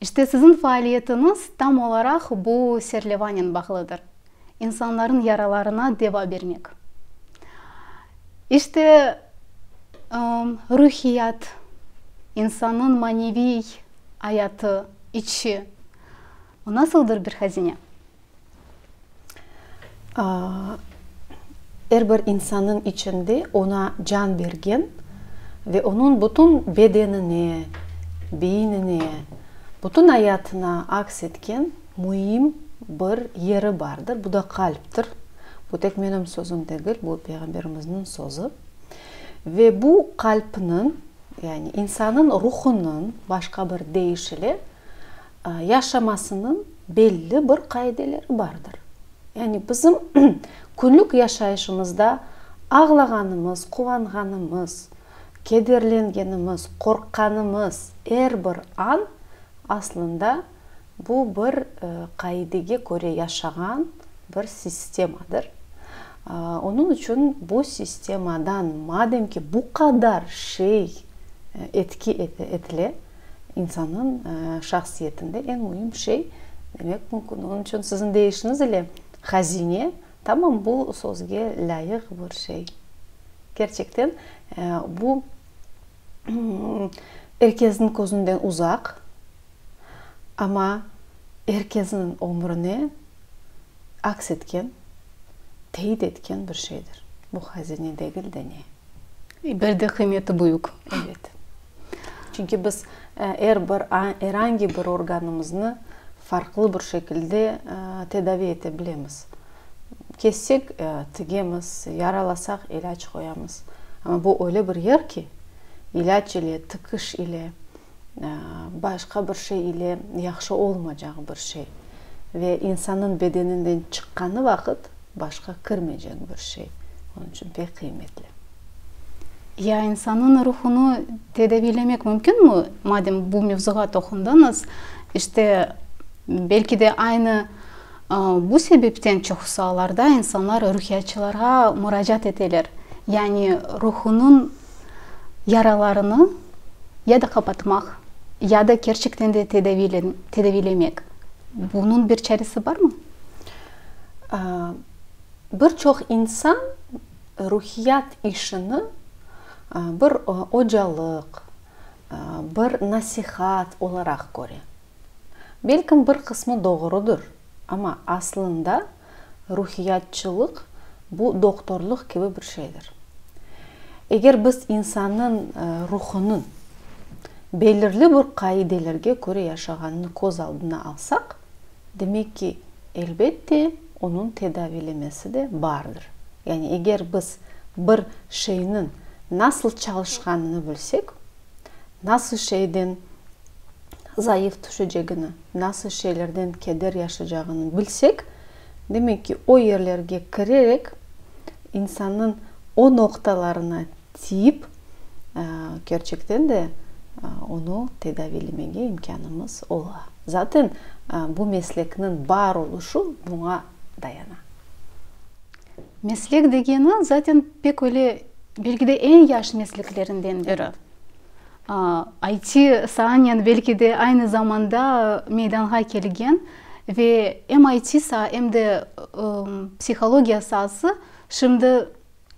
İşte siziñ faaliyetiñiz tam olaraq bu serlevanen bağlıdır, insanlarnıñ yaralarına deva bermek. İşte, ruhiyat, insannıñ maneviy ayatı, içi, o nasıldır bir hazine. Er bir insannıñ içinde oña can bergen ve onıñ bütün bedenine, beynine, bütün ayatına aks etken müim bir yeri bardır, bu da qalptir. Bu tek menim sözüm degil, bu Peyğamberimizniñ sözü. Ve bu qalpniñ, yani insannıñ ruhunıñ, başqa bir deyiş ile, yaşamasınıñ belli bir qaideleri bardır. Yani bizim künlük yaşayışımızda ağlağanımız, quvanğanımız, kederlengenimiz, qorqqanımız er bir an aslında bu bir qaidege köre yaşağan bir sistemadır. Onıñ içün bu sistemadan madem ki bu qadar şey etki etile, İnsannıñ şahsiyetinde eñ müim şey, demek mümkün, onıñ içün siziñ deyişiñiz ile hazine, tamam, bu sözge lâyıq bir şey. Kerçekten, bu er kesniñ közünden uzaq, amma er kesniñ ömrüne aks etken, teit etken bir şeydir. Bu hazine degil de ne? Bir de qıymeti büyük. Evet. Çünki biz er bir, er angi bir organımıznı farqlı bir şekilde tedaviy ete bilemiz. Kessek, tigemiz, yaralasaq, ilâc qoyamız. Amma bu öyle bir yer ki, ilâc ile, tikiş ile, başqa bir şey ile yahşı olmacaq bir şey. Ve insannıñ bedeninden çıqqanı vaqıt başqa kirmeycek bir şey. Onıñ içün pek qıymetli. Ya insannıñ ruhunı tedaviylemek mümkünmi? Madem bu mevzuğa toqundıñız, işte, belki de aynı bu sebepten çoqusı allarda insanlar ruhiyatçılarğa muracaat eteler. Yani ruhunıñ yaralarını ya da qapatmaq, ya da kerçekten de tedaviylemek. Bunıñ bir çaresi barmı? Bir çoq insan Ruhiyat işini bir ocalıq, bir nasihat olaraq köre. Belkim bir qısmı doğrudır, amma aslında ruhiyatçılıq bu doktorlıq kibi bir şeydir. Eger biz insannıñ ruhunıñ belirli bir qaidelerge köre yaşağanını köz aldına alsaq, demek ki, elbette, onıñ tedaviylemesi de bardır. Yani eger biz bir şeyniñ nasıl çalışqanını bilsek, nasıl şeyden zayıf tüşecegini, nasıl şeylerden keder yaşaycağını bilsek, demek ki, o yerlerge kirerek, insannıñ o noqtalarına, Tip, kerçekten de, onı tedaviylemege imkânımız ola. Zaten, bu meslekniñ bar oluşu buña dayana. Meslek degeni, zaten, pek öyle, belki de, eñ yaş mesleklerinden biri. IT saanen, belki de, aynı zamanda meydanğa kelgen ve em IT saa, em de psihologiya saası şimdi,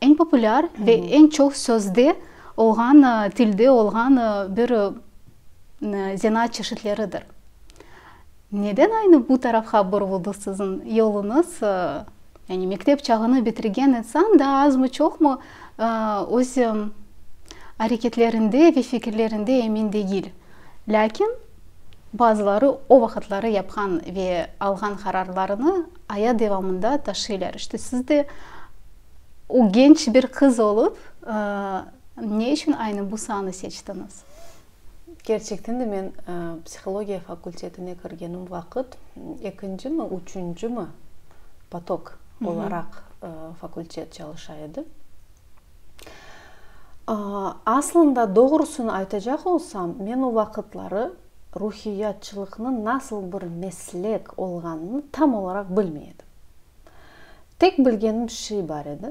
Eñ populâr ve eñ çoq sözde olğan, tilde olğan bir zenaat çeşitleridir. Neden aynı bu tarafqa buruldı siziñ yoluñız? Yani mektep çağını bitirgen insan daa azmı-çoqmı öz areketlerinde ve fikirlerinde emin degil. Lâkin, Bazıları o vaqıtları yapqan ve alğan qararlarını ayat devamında taşıylar. İşte siz de o genç bir qız olıp, ne içün aynı bu saanı seçtiñiz? Kerçekten de men psihologiya fakultetine kirgenim vaqıt ekinci mi, üçünci mi potok olaraq fakultet çalışa edi. Aslında, doğrusını aytacaq olsam, men o vaqıtları ruhiyatçılıqnıñ nasıl bir meslek olğanını tam olaraq bilmey edim. Tek bilgenim şey bar edi,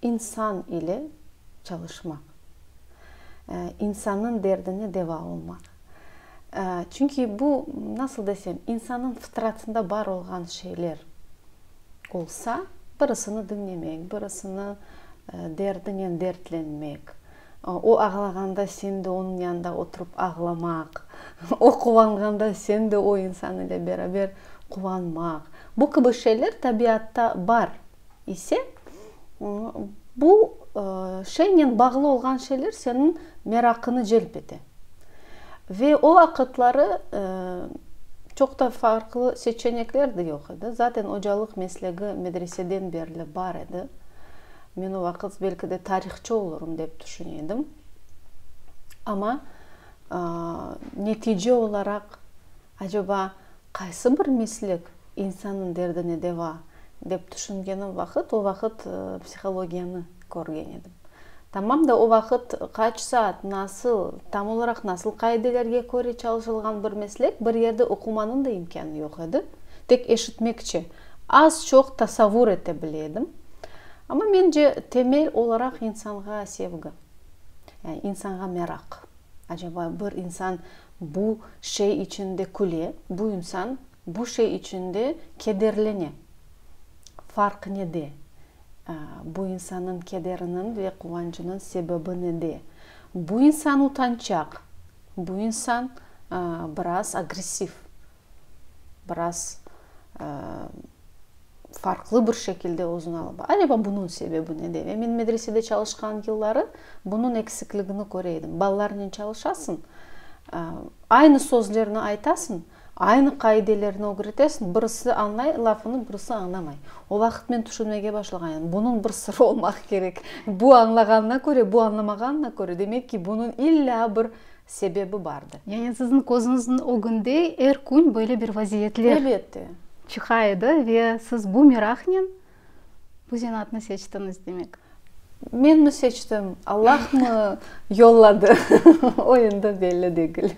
insan ile çalışmaq, insannıñ derdine deva olmaq. Çünki bu, nasıl desem, insannıñ fıtratında bar olğan şeyler. olsa, birisini diñlemek, birisini derdinen dertlenmek, o ağlağanda sen de onıñ yanında oturıp ağlamaq, o quvanğanda sen de o insan ile beraber quvanmaq, bu kibi şeyler tabiatta bar ise, bu şeynen bağlı olğan şeyler seniñ meraqıñı celp ete. Ve o vaqıtları çoq da farqlı seçenekler de yoq edi. Zaten ocalıq meslegi medreseden berli bar edi. Men o vaqıt belki de tarihçı olurım dep tüşüne edim. Amma netice olaraq, Aceba, qaysı bir meslik insannıñ derdine deva, dep tüşüngenim vaqıt, o vaqıt psihologiyanı körgen edim. Tamam da, o vaqıt qaç saat, nasıl, tam olaraq nasıl qaidelerge köre çalışılğan bir meslek, bir yerde oqumanıñ da imkânı yoq edi, tek eşitmekçe, az-çoq tasavur ete bile edim. Amma, mence, temel olaraq insanğa sevgi, yani insanğa meraq. Acaba bir insan bu şey içün de küle, bu insan bu şey içün de kederlene. Farq nede? Bu insannıñ kederiniñ ve quvancınıñ sebebi nede? Bu insan utançaq, bu insan biraz agressiv. biraz farqlı bir şekilde özüni alıp. Acaba bunıñ sebebi nede? Ve men medresede çalışqan yılları bunıñ eksikligini köre edim. Balalarnen çalışasıñ, aynı sözlerni aytasıñ, aynı qaidelerni ögretesiñ, birisi añlay lafını, birisi añlamay. O vaqıt men tüşünmege başlağan edim, bunıñ bir sırı olmaq kerek. Bu añlağanına köre, bu añlamağanına köre, demek ki, bunıñ illa bir Sebebi bardı. Yani sizin közüñizniñ ögünde er kün böyle bir vaziyetler. Elbette. Çıqa edi ve siz bu meraqnen bu zenaatnı seçtiñiz demek. Menmi seçtim, Allahmı yolladı, o endi belli degil.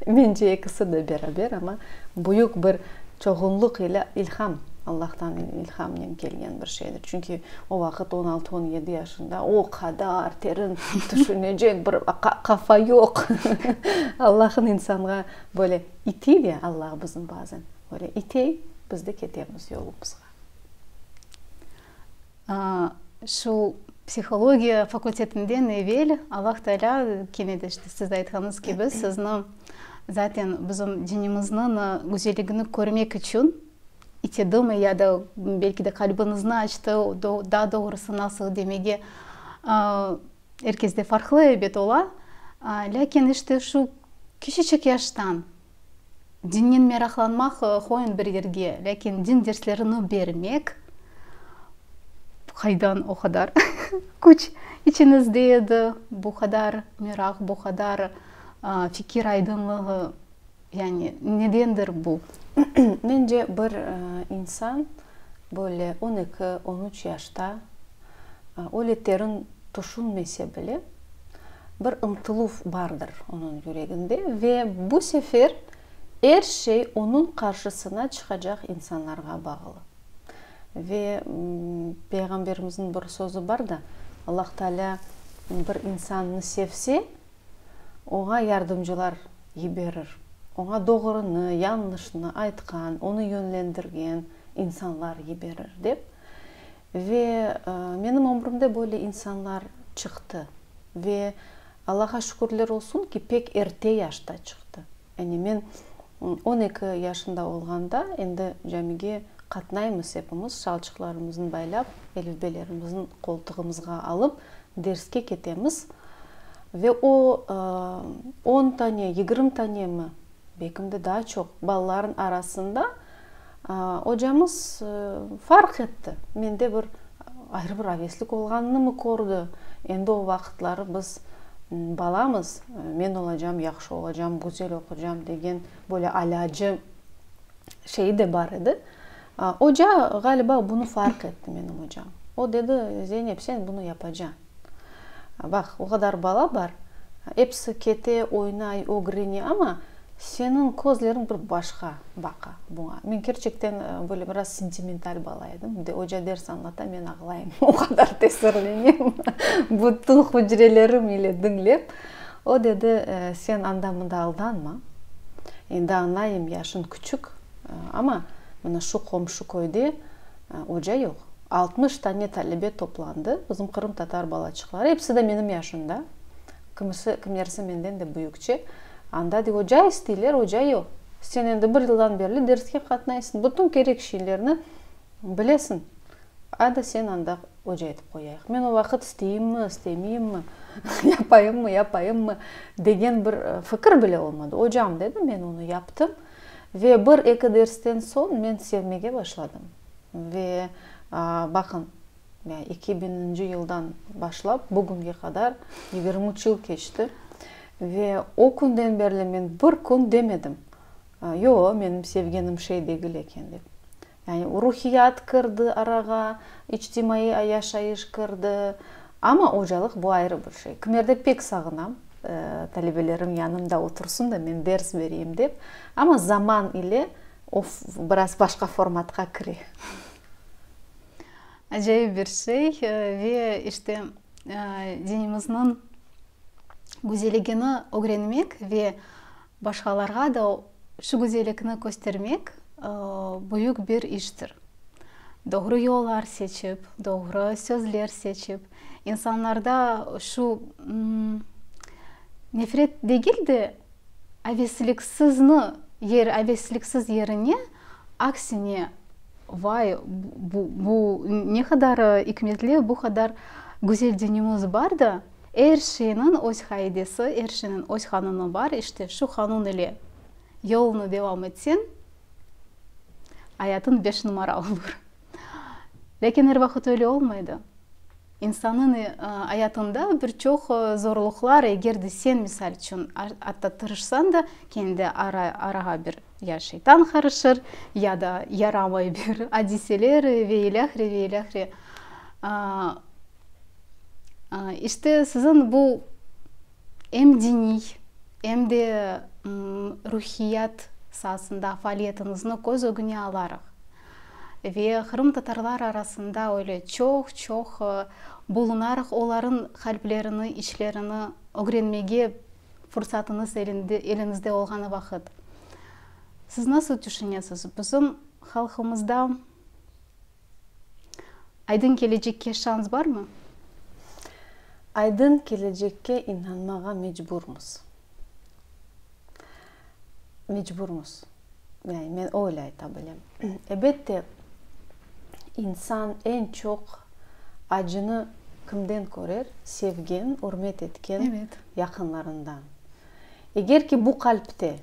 Mence, ekisi de beraber, amma büyük bir. Çoğunlıq ile ilham, Allahtan ilhamnen kelgen bir şeydir. Çünki o vaqıt on altı, on yedi yaşında, o qadar terin tüşünecek bir qafa yoq. Allahın insanğa böyle itiy de Allah bizim bazen, böyle itiy, biz de ketemiz yolumızğa. Şu psihologiya fakultetinden evel Allah Taalâ kene de işte siz aytqanıñız kibi sizni zaten bizim dinimizniñ güzelligini körmek içün itedimi ya da belki de qalbiñizni açtı, daa doğrusı nasıl demege er kesde farqlı elbet ola, lâkin işte şu kişiçik yaştan Dinnen meraqlanmaq, qoyuñ bir yerge, lâkin din derslerini bermek, qaydan o qadar küç içiñizde edi, bu qadar meraq, bu qadar fikir aydınlığı, yani nedendir bu? Mence, bir insan böyle on eki, on üç yaşta, Öyle terin tüşünmese bile, bir ımtıluv bardır onıñ yüreginde ve bu sefer er şey onıñ qarşısına çıqacaq insanlarğa bağlı. Ve Peyğamberimizniñ bir sözü bar da, Allah Taalâ bir insannı sevse, oña yardımcılar yiberir. Oña doğrunı, yañlışnı aytqan, onı yönlendirgen insanlar yiberir, dep. Ve menim ömrümde böyle insanlar çıqtı. Ve Allağa şükürler olsun ki, pek erte yaşta çıqtı. Yani men on eki yaşında olğanda endi camige qatnaymız epimiz, şalçıqlarımıznı baylap, elifbelerimizin qoltuğımızğa alıp, derske ketemiz. Ve o on tane, yigirm tanemi, bekim de daa çoq, balalarnıñ arasında, Ocamız farq etti, mende bir ayrı bir aveslik olğanınımı kördi. Endi o vaqıtları biz balamız, men olacam, yahşı olacam, güzel oqucam degen böyle alâcı şeyi de bar edi. Oca, ğaliba, bunı farq etti, menim ocam. O dedi, Zeynep, sen bunı yapacañ. Baq, o qadar bala bar, episi kete, oynay, ögrene, amma seniñ közleriñ bir başqa baqa buña. Men kerçekten böyle biraz sentimental bala edim. Oca ders añlata, men ağlayım, o qadar tesirlenem, bütün hücrelerim ile diñlep. O dedi, sen anda-mında aldanma, endi añlayım, yaşıñ küçük, amma mına şu qomşu köyde Oca yoq. Altmış tane talebe toplandı, bizim qırımtatar balaçıqları, episi de menim yaşımda, kimisi, kimlerisi menden de büyükçe. Anda de oca isteyler, oca yoq. Sen endi bir yıldan berli derske qatnaysıñ, bütün kerek şeylerni bilesiñ, adi seni anda oca etip qoyayıq. Men o vaqıt isteyimmi, istemeyimmi, yapayımmi, yapmayımmi degen bir fikir bile olmadı. Ocam, dedim, men onı yaptım. Ve bir-eki dersten soñ men sevmege başladım. Ve, baqıñ, eki biñinci yıldan başlap bugünge qadar yigirmi üç yıl keçti. Ve o künden berli men bir kün demedim, Yo, menim sevgenim şey degil eken, dep. Yani ruhiyat kirdi arağa, içtimaiy yaşayış kirdi. Amma ocalıq bu ayrı bir şey. Kimerde pek sağınam, talebelerim yanımda otursın da men ders bereyim dep. Amma zaman ile o biraz başqa formatqa kire. Acayip bir şey ve işte dinimizniñ güzeligini ögrenmek ve Başqalarğa da şu güzellikni köstermek büyük bir iştir. Doğru yollar seçip, doğru sözler seçip, insanlarda şu nefret degil de, avesliksizni, avesliksiz yerine Aksine, vay, bu ne qadar ikmetli, bu qadar güzel dinimiz bar da, er şeyniñ öz qaidesi, er şeyniñ öz qanunı bar, işte şu qanun ile yolunı devam etseñ, ayatıñ beş numara olur. Lâkin er vaqıt öyle olmay da. İnsannıñ ayatında bir çoq zorluqlar, eger de sen, misal içün, atta tırışsañ da, kene de arağa bir ya şeytan qarışır, ya da yaramay bir adiseler ve ilâhre ve ilâhre. İşte, siziñ bu em diniy, em de ruhiyat saasında faaliyetiñizni köz ögüne alaraq. Ve qırımtatarlar arasında öyle çoq-çoq bulunarıq, olarnıñ qalplerini, içlerini ögrenmege fursatıñız eliñizde olğanı vaqıt. Siz nasıl tüşünesiz, bizim halqımızda aydın kelecekke şans barmı? Aydın kelecekke inanmağa mecburmız. mecburmız. Yani men öyle ayta bilem. Ebette, insan eñ çoq acını kimden körer? Sevgen, ürmet etken yaqınlarından. Eger ki, bu qalpte,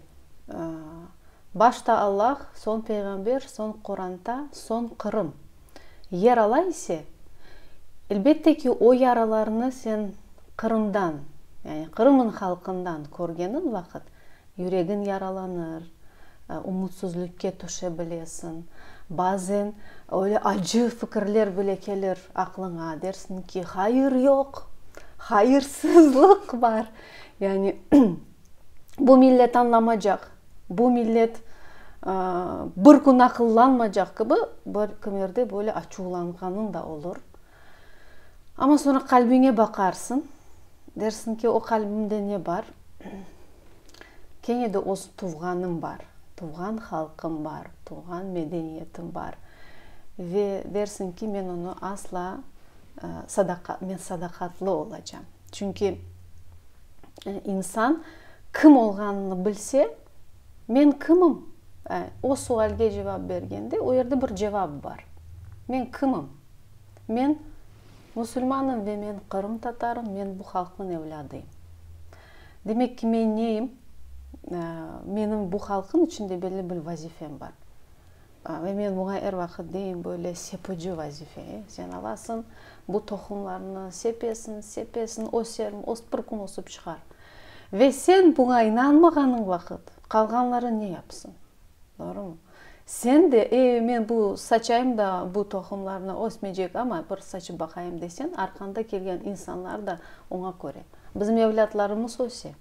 başta Allah, soñ Peyğamber, soñ Quranta, soñ Qırım Yarala ise, elbette ki, o yaralarnı sen Qırımdan, yani Qırım'ın halqından körgeniñ vaqıt, yüregiñ yaralanır, umutsuzlükke tüşe bilesiñ, bazen öyle acı fikirler bile kelir aqlıña, dersiñ ki, hayır yoq, hayırsızlıq bar, yani bu millet añlamacaq. Bu millet bir kün aqıllanmacaq kibi, bir kimerde böyle açuvlanğanıñ da olur. Amma soñra qalbiñe baqarsıñ, dersiñ ki, o qalbimde ne bar? Kene de öz tuvğanım bar, tuvğan halqım bar, tuvğan medeniyetim bar. Ve dersiñ ki, men onı asla, men sadaqatlı olacam. Çünki insan kim olğanını bilse, men kimim? O sualge cevap bergende, o yerde bir cevap bar. Men kimim? Men musulmanım ve men qırımtatarım, men bu halqnıñ evlâdıyım. Demek ki, men neyim? Menim bu halqnıñ içinde belli bir vazifem bar. Ve men buña er vaqıt deyim, böyle sepucı vazife, e, sen alasıñ, bu tohumlarnı sepesiñ, sepesiñ, öser, ös, bir kün ösip çıqar. Ve sen buña inanmağanıñ vaqıt, qalğanları ne yapsıñ? Doğrumı? Sen de, e, men bu saçayım da, bu tohumlarnı ösmeycek, amma bir saçıp baqayım deseñ, arqanda kelgen insanlar da oña köre. Bizim evlâtlarımız öse.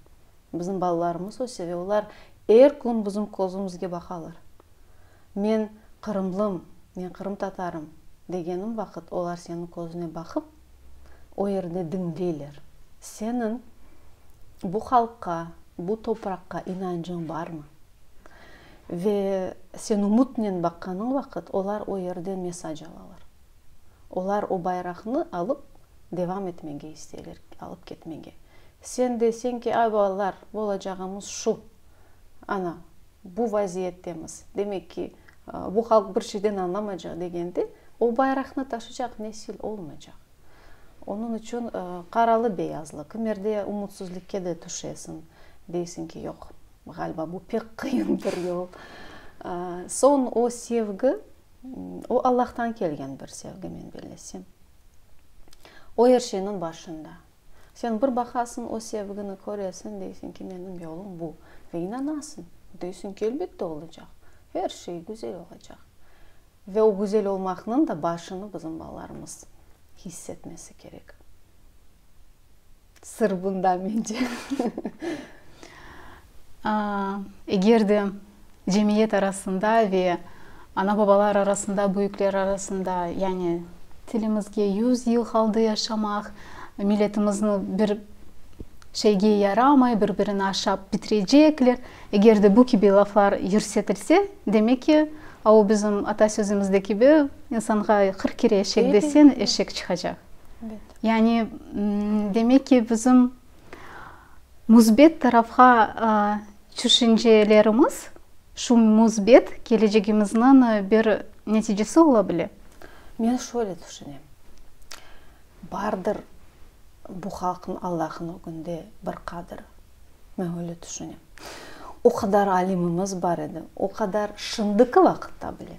Bizim balalarımız öse ve olar er kün bizim közümizge baqalar. Men qırımlım, men qırımtatarım degenim vaqıt olar seniñ közüne baqıp, o yerde diñleyler. Seniñ bu halqqa, bu topraqqa inancıñ barmı? Ve sen umutnen baqqanıñ vaqıt olar o yerden mesaj alalar. Olar o bayraqnı alıp devam etmege isteyler, alıp ketmege. Sen deysen ki, ay balalar, bolacağımız şu, ana, bu vaziyettemiz, demek ki, bu halq bir şeyden añlamaycaq degende, o bayraqnı taşıycaq nesil olmaycaq. Onıñ içün qaralı-beyazlı, kimerde umutsızlıkke de tüşesiñ, deysiñ ki, yoq, ğaliba, bu pek qıyın bir yol. Soñ o sevgi. O, Allahtan kelgen bir sevgi, men bellesem. O, er şeyniñ başında. Sen bir baqasıñ, o sevgini köresiñ, deysiñ ki, menim yolum bu. Ve inanasıñ. Deysiñ ki, elbette olacaq. Er şey güzel olacaq. Ve o güzel olmaqnıñ da başını bizim balalarımız hiss etmesi kerek. Sır bunda, mence, eger de cemiyet arasında ve ana-babalar arasında, büyükler arasında, yani tilimizge yüz yıl qaldı yaşamaq, milletimizni bir şeyge yaramay, bir-birini aşap bitirecekler, eger de bu kibi laflar yürsetilse, demek ki, o bizim ata sözümüzde kibi, insanğa qırq kere eşek desen, eşek çıqacaq. Yani, demek ki, bizim müsbet tarafğa tüşüncelerimiz şu müsbet kelecegimizniñ bir neticesi ola bile? Men şöyle tüşünem, bardır bu halqnıñ Allah'ın ögünde bir qadri. Men öyle tüşünem. O qadar alimimiz bar edi, o qadar şimdiki vaqıtta bile.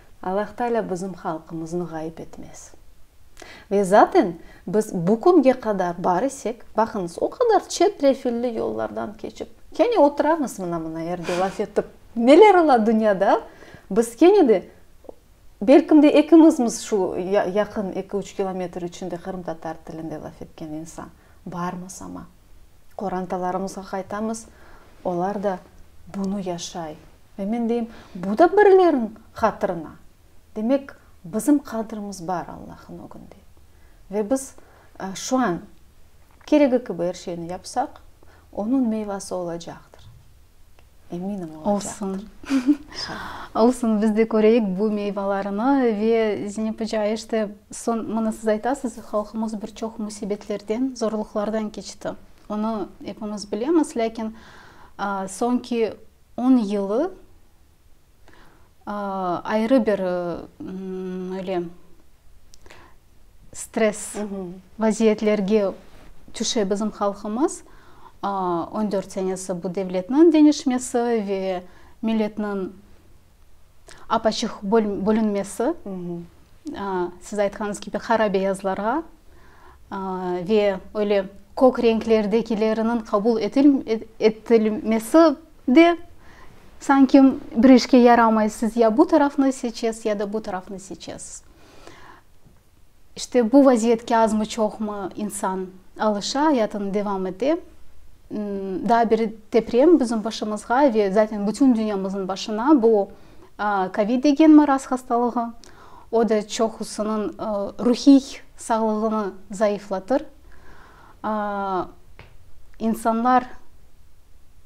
Allahtaalâ bizim halqımıznı ğayıp etmez. Ve zaten biz bu künge qadar bar isek, baqıñız, o qadar çetrefilli yollardan keçip, kene oturamız mına-mına yerde laf etip, neler ola dünyada, biz kene de, belkim de ekimizmiz şu yaqın eki-üç kilometr içinde qırımtatar tilinde laf etken insan barmız ama. qorantalarımızğa qaytamız, olar da bunı yaşay. Ve men deyim, bu da birileriniñ hatırına. Demek, bizim qadrimiz bar Allahnıñ ögünde. Ve biz şu an keregi kibi er şeyni yapsaq, onıñ meyvası olacaqtır. Eminim olacaqtır. Olsun. Olsun, biz de köreyik bu meyvalarını ve Zeynep oca, işte, soñ, mına siz aytasız, halqımız bir çoq musibetlerden, zorluqlardan keçti. Onı epimiz bilemiz, lâkin soñki on yılı, ayrı bir öyle stres vaziyetlerge tüşe bizim halqımız. On dört senesi bu devletniñ deñişmesi ve milletniñ apaçıq bölünmesi, siz aytqanıñız kibi, qara beyazlarğa ve öyle kök renklerdekileriniñ qabul etilmesi De, sanki bir işke yaramay, siz ya bu tarafnı seçes, ya da bu tarafnı seçes. İşte bu vaziyetke azmı-çoqmı insan alışa, ayatını devam ete. Daa bir deprem bizim başımızğa ve zaten bütün dünyamızın başına bu covid degen maraz hastalığı, o da çoqusınıñ ruhiy sağlığını zayıflatır. İnsanlar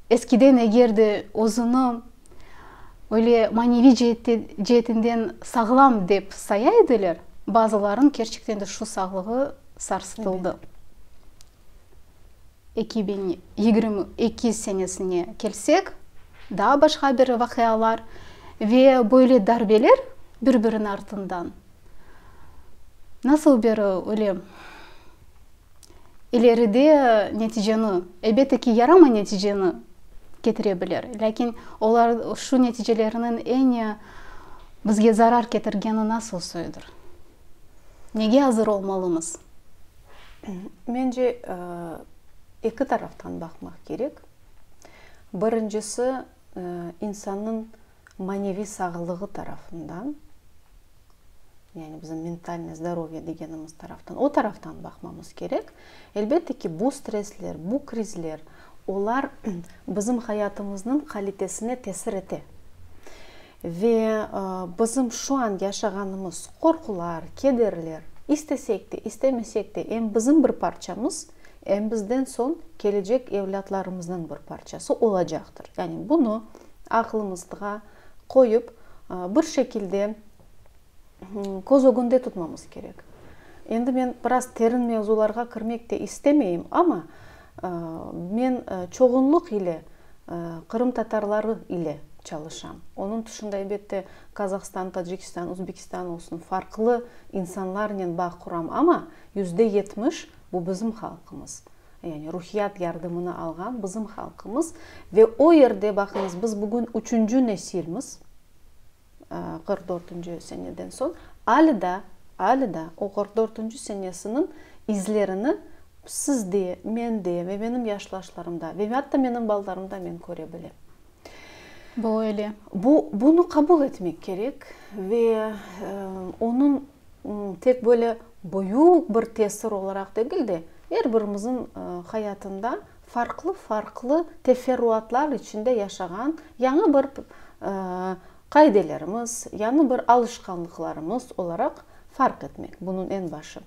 eskiden eger de özüni öyle maneviy ceetinden sağlam dep saya ediler, bazılarınıñ kerçekten de şu sağlığı sarsıtıldı. Eki biñ yigirmi eki senesine kelsek, daa başqa bir vaqialar ve böyle darbeler bir-biriniñ artından. Nasıl bir öyle ileride neticeni, elbette ki, yaramay neticeni ketire bilir, lâkin olar şu neticeleriniñ eñi bizge zarar ketirgeni nasıl soyudır? Nege azır olmalımız? Mence, eki taraftan baqmaq kerek. Birincisi, insannıñ maneviy sağlığı tarafından, yani bizim mentalnoye zdorovye degenimiz taraftan, o taraftan baqmamız kerek. Elbette ki, bu stressler, bu krizler, olar bizim hayatımıznıñ qalitesine tesir ete. Ve bizim şu an yaşağanımız qorqular, kederler, istesek de, istemesek de, em bizim bir parçamız, em bizden soñ kelecek evlâtlarımıznıñ bir parçası olacaqtır. Yani bunı aqlımızğa qoyıp, bir şekilde köz ögünde tutmamız kerek. Endi men biraz terin mevzularğa kirmek de istemeyim, amma men çoğunluq ile qırımtatarları ile çalışam. Onıñ tışında, elbette, Qazahstan, Tacikistan, Uzbekistan olsun, farqlı insanlarnen bağ quram, amma yüzde yetmiş Bu bizim halqımız. Yani ruhiyat yardımını alğan bizim halqımız. Ve o yerde, baqıñız, biz bugün üçünci nesilmiz, qırq dörtünci seneden soñ, ali da, ali da o qırq dörtünci senesiniñ izlerini siz de, men de ve benim yaşlaşlarım da ve atta benim balalarım da men köre bilem. Bu öyle. Bu, bunı qabul etmek kerek ve onıñ tek böyle büyük bir tesir olaraq degil de, er birimizin hayatında farqlı-farqlı teferruatlar içinde yaşağan yañı bir qaidelerimiz, yañı bir alışqanlıqlarımız olaraq farq etmek, bunun en başı.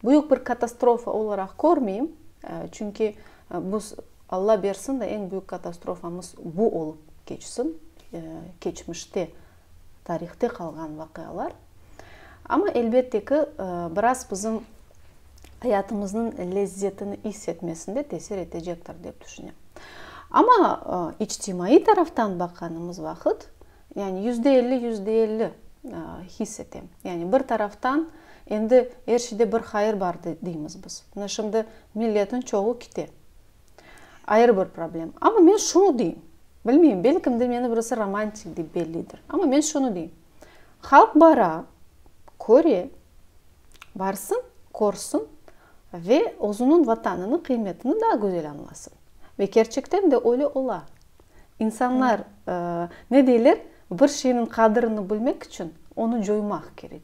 Büyük bir katastrofa olaraq körmeyim, çünki bu, Alla bersin de, en büyük katastrofamız bu olıp keçsin, keçmişte, tarihte qalğan vaqialar. Amma elbette ki, biraz bizim ayatımıznıñ lezzetini is etmesinde tesir etecektir, dep tüşünem. Amma içtimaiy taraftan baqanımız vaqıt, yani yüzde elli, yüzde elli his etem. Yani bir taraftan endi er şeyde bir hayır bar deymiz biz. Mına şimdi milletniñ çoğu kite, ayrı bir problem. Amma men şunı deyim, bilmeyim, belkim de meni birisi romantik dep bellidir, amma men şunı deyim, Halq bara, köre, barsın, körsün ve özüniñ Vatanınıñ qıymetini daa güzel añlasın. Ve kerçekten de öyle ola. İnsanlar, ne deyler, bir şeyniñ qadrini bilmek içün onı coymaq kerek.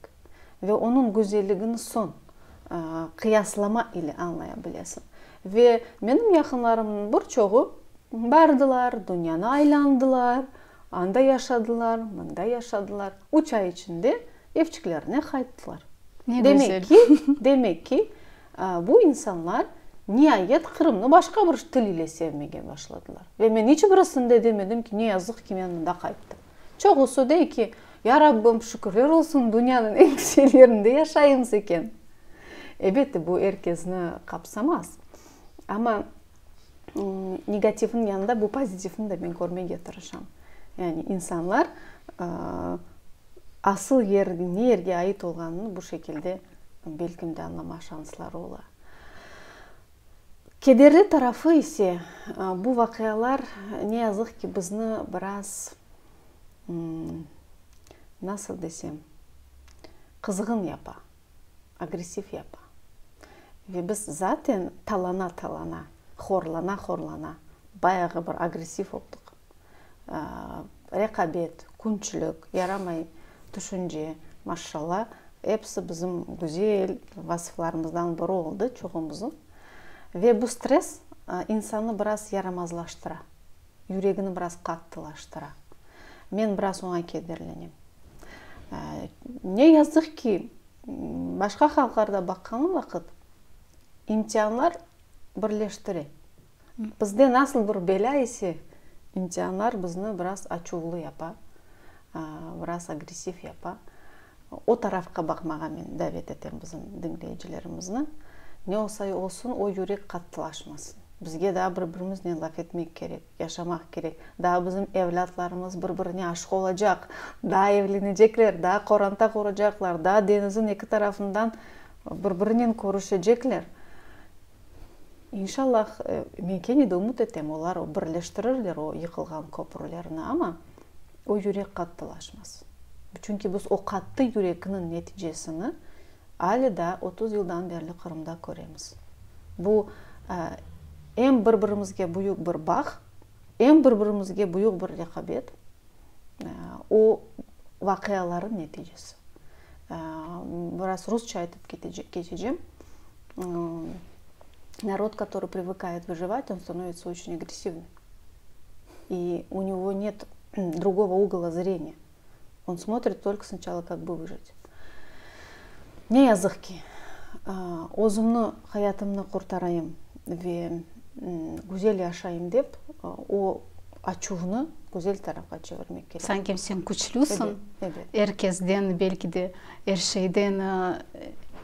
Ve onıñ güzelligini soñ qıyaslama ile añlaya bilesiñ. Ve menim yaqınlarımnıñ bir çoğu bardılar, dünyanı aylandılar. Anda yaşadılar, mında yaşadılar. Üç ay içinde evçiklerine qayttılar. Ne güzel. Demek ki, demek ki, bu insanlar niayet Qırımnı başqa bir til ile sevmege başladılar. Ve men iç birisinde demedim ki, ne yazıq ki, men mında qayttım. Çoğusı dey ki, ya Rabbim, şükürler olsun, dünyanıñ eñ güzel yerinde yaşaymız eken. Elbette, bu er kesni qapsamaz. Amma. negativniñ yanında bu pozitivni de men körmege tırışam. Yani insanlar asıl yer, ne yerge ait olğanını bu şekilde belkim de añlamaq şansları ola. Kederli tarafı ise, bu vaqialar ne yazıq ki, bizni biraz, nasıl desem, qızğın yapa. agressiv yapa. Ve biz zaten talana-talana, horlana-horlana bayağı bir agressiv oldıq. Reqabet, künçilik, yaramay tüşünce, maşşalla, episi bizim güzel vasıflarımızdan biri oldı çoğumıznıñ. Ve bu stress insannı biraz yaramazlaştıra. yüregini biraz qattılaştıra. Men biraz oña kederlenem. Ne yazıq ki, başqa halqlarda baqqanım vaqıt, imtianlar birleştire. Bizde nasıl bir belâ ise, imtianlar bizni biraz açuvlı yapa, biraz agressiv yapa. O tarafqa baqmağa men davet etem bizim diñleyicilerimizni. Ne olsa olsun, o yürek qattılaşmasın. Bizge daa bir-birimiznen laf etmek kerek, yaşamaq kerek. Daa bizim evlâtlarımız bir-birine aşıq olacaq, daa evlenecekler, daa qoranta quracaqlar, daa deñizin eki tarafından bir-birinen körüşecekler. İnşallah, men kene de ümüt etem, olar birleştirirler o yıqılğan köprülerni. Amma. O yürek qattılaşmaz. Çünki biz o qattı yürekniñ neticesini ale daa otuz yıldan berli Qırımda köremiz. Bu, em bir-birimizge büyük bir bağ, em bir-birimizge büyük bir reqabet, o vaqialarnıñ neticesi. Biraz rusça aytıp keçecem. Narod, katorıy privıkayet vıjıvat, on stanovitsa oçün agressivnıy. i u него net drugovo ugola zreniya, on smotrit tolko snıçalo kak bi vıjit. Ne yazıq ki, özümni, hayatımnı qurtarayım ve güzel yaşayım dep, o açuvnı güzel tarafqa çevirmek kerek. Sanki sen küçlüsiñ, er kesden, belki de er şeyden